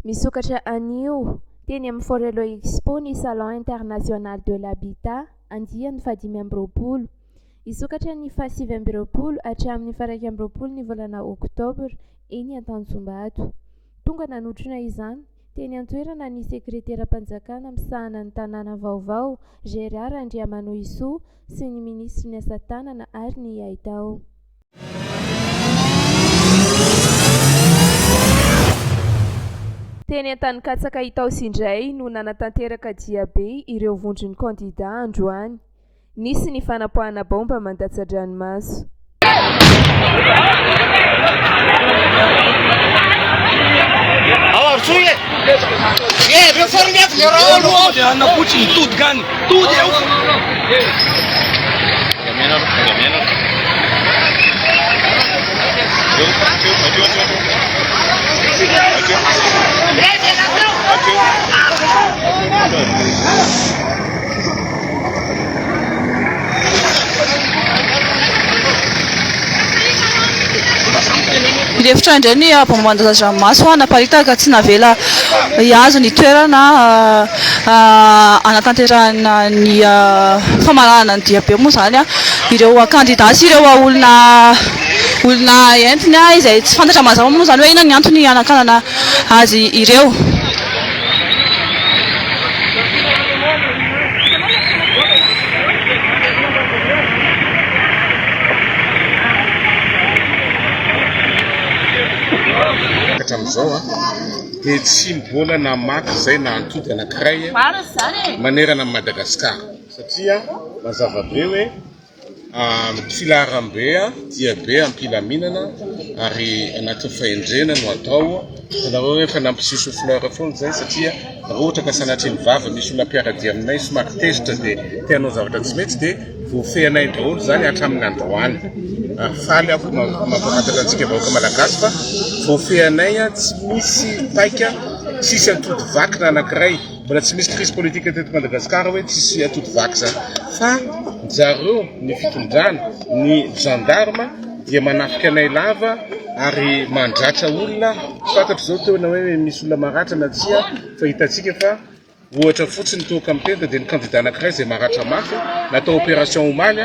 Misokatra anio, teny amin'ny Forello Expo ny Salon International de l'Habitat, andiany fahadimy amby roapolo. Hisokatra ny fahasivy amby roapolo hatramin'ny faha-iraika amby roapolo ny volana oktobra, eny Antanjombato. Tonga nanotrona izany, teny an-toerana ny sekreteram-panjakana misahana ny tanàna vaovao, Gérard Randriamanohisoa sy ny minisitry ny asa tanana ary ny haitao. Teny Antanikatsaka Itaosy indray no nanatanteraka diabe ireo vondron'ny kandidà androany. Nisy ny fanapoahana baomba mandatsa-dranomaso. Nirefitra indray ny bombamban-daza-dranomaso naparitaka, tsy navela hihazo ny toerana hanatanterahana ny famaranana ny diabe moa izany ireo kandida sy ireo olona olona entiny izay tsy fantatra mazava moa izany hoe inona ny antony hanakanana azy ireo. Hatramin'izao dia tsy mbola namaky izay na antody anankiray manerana an'i Madagasikara satria mazava be hoe Ny filaharambe dia be am-pilaminana ary anatin'ny fahendrena no atao. Hitanareo hoe efa nampisy choux fleur foana izay satria raha ohatra ka sanatria ny vava misy olona mpiara-dia aminay somary tezitra dia te hanao zavatra tsy mety dia voafehinay daholo izany hatramin'ny androany. Ary faly aho fa mampahafantatra antsika vahoaka malagasy fa voafehinay tsy misy paika, tsy misy atody vaky na anankiray. Mbola tsy misy crise politique teto Madagascar hoe tsisy atody vaky zany fa zareo ny fitondrana ny gendarme dia manafika anay lava ary mandratra olona fantatro zao teo na hoe misy olona maratra na tsia fa hitatsika fa ohatra fotsiny toa kamitenta dia ny kandida anakiray zay maratra mafy natao operation omaly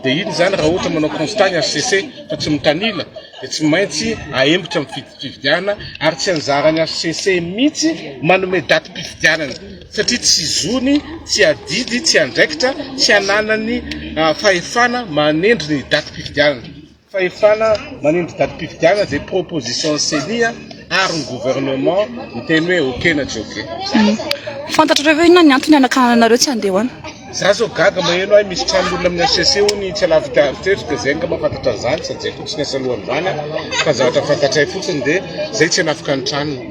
Dia inona izany raha ohatra manao constat ny HCC fa tsy mitanila dia tsy maintsy ahembotra ny fifidianana ary tsy anjaran'ny HCC mihitsy manome datim-pifidianana satria tsy zony, tsy adidy, tsy andraikitra, tsy ananany fahefana manendry ny datim-pifidianana. Fahefana manindry datim-pifidianana dia proposition ceni a, ary ny gouvernement miteny hoe ok na tsy ok. Fantatrareo ve inona ny antony hanakananareo tsy handeha ho any? Za zao gaga maheno ahy misy tranon'olona amin'ny HCC ony itsy alavidavy teo ry Pezay ngamba fantatra an'izany sa Jeiko tsy niasa alohan'izany aho fa ny zavatra fantatray fotsiny dia zay tsy hanafika ny tranony.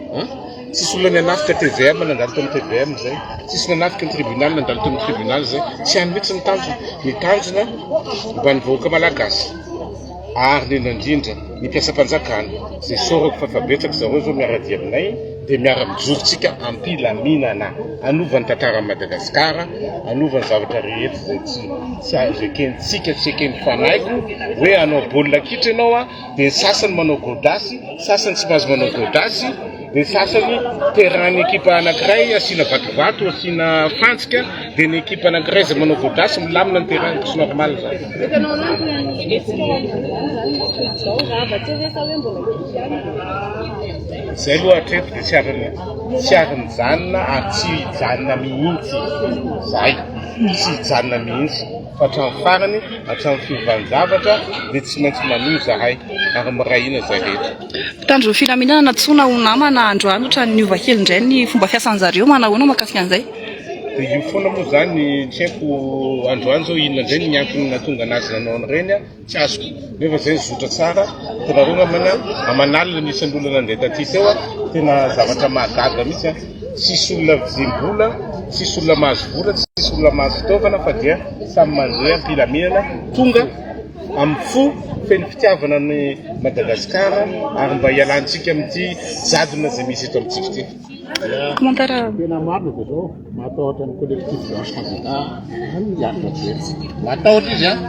Tsisy olona nanafika tvm nandalo tao amin'ny tvm izay, tsisy nanafika ny tribunal nandalo tao amin'ny tribunal izay. Tsy any mihitsy ny tanjona. Ny tanjona mba ny vahoaka malagasy ary indrindra indrindra ny mpiasam-panjakana izay sorako fa efa betsaka zareo izao miara-dia aminay dia miara-mijorontsika am-pilaminana hanova ny tantaran'i Madagasikara, hanova ny zavatra rehetra izay tsy tsy azo ekentsika, tsy eken'ny fanahy koa hoe hanao baolina kitra ianao a. dia ny sasany manao gôdasy, sasany tsy mahazo manao gôdasy, dia ny sasany terrain-ny ekipa anankiray asiana vatovato, asiana fantsika, dia ny ekipa anankiray izay manao gôdasy milamina ny terrain, tsy normal izany. Izay aloha hatreto dia tsy ary tsy ary mijanona ary tsy hijanona mihitsy izay, tsy hijanona mihitsy. Fa hatramin'ny farany, hatramin'ny fiovan-javatra, dia tsy maintsy manohy izahay ary miray hina izay rehetra. Mpitandro ny filaminana nantsoina ho namana androany ohatran'ny niova kely indray ny fomba fiasan-dry zareo, manahoana mahakasika an'izay? Dia io foana moa izany, tsy haiko androany izao inona indray ny antony nahatonga an'azy nanao an'ireny. Tsy azoko, nefa zay zotra tsara, hitanareo namana, aman'alina nisy an'olona nandeha taty teo an, tena zavatra mahagaga mihitsy an, tsisy olona vizim-bola, tsisy olona mahazo vola, tsisy olona mahazo fitaovana fa dia samy mandeha am-pilaminana, tonga amin'ny fo feno fitiavana an'i Madagasikara ary mba hialantsika amin'ity jadona izay misy eto amintsika ity. Tena marina dia zao, matahotra ny collectif blanche candidat an i Andry Rajoelina. Matahotra izy an,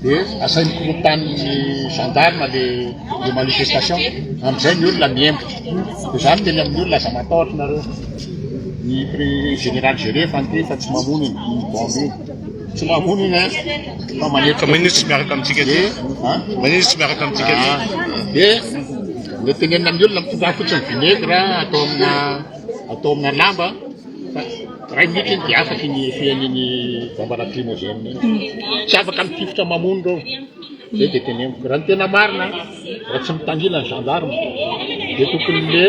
dia asainy korotaniny gendarme le le manifestation, amin'izay ny olona miembo. Dia za miteny amin'ny olona aza matahotra nareo. Ny pré- général Géré efa niteny fa tsy mamono iny iny bombe iny. Tsy mamono iny an, fa manetra Maninona izy tsy miaraka amintsika aty? Dia, an? Maninona izy tsy miaraka amintsika aty? Dia Mety tenenina amin'ny olona mitondrà fotsiny vinaigre atao amina atao amina lamba fa iray minitra iny dia afaka iny fihain'iny bomba lacrymogène iny. Hmm. Tsy afaka mitifitra mamono ireo. Zay dia teneniko. Raha ny tena marina, raha tsy mitangila ny gendarme, dia tokony le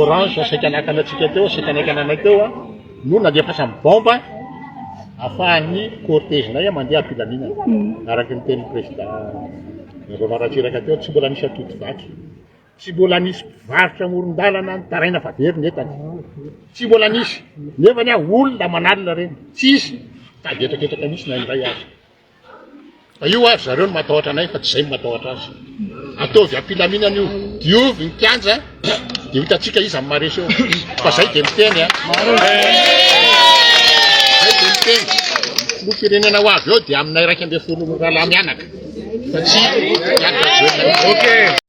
orange saika nakanantsika teo, saika naikananay teo, no nandefasan ny bomba afahan ny cortège nay mandeha am-pilaminana araka ny tenin'ny Président Rajaonarimampianina Ratsiraka teo tsy mbola nisy atody vaky, tsy mbola nisy mpivarotra amoron-dalana nitaraina fa very ny entany, tsy mbola nisy, nefa anie olona manalina ireny, tsisy, fa avietrakietraka mihitsy na indray aza. Fa io ary zareo no matahotra anay fa tsy izay no matahotra azy. Ataovy am-pilaminana io. Diovy ny kianja dia hitantsika iza amin'ny maresy eo. Fa izay dia miteny a. Izay dia miteny. Ny firenena ho avy eo dia aminay iraika ambin'ny folo rahalahy mianaka. Fa tsy ianareo. Okay.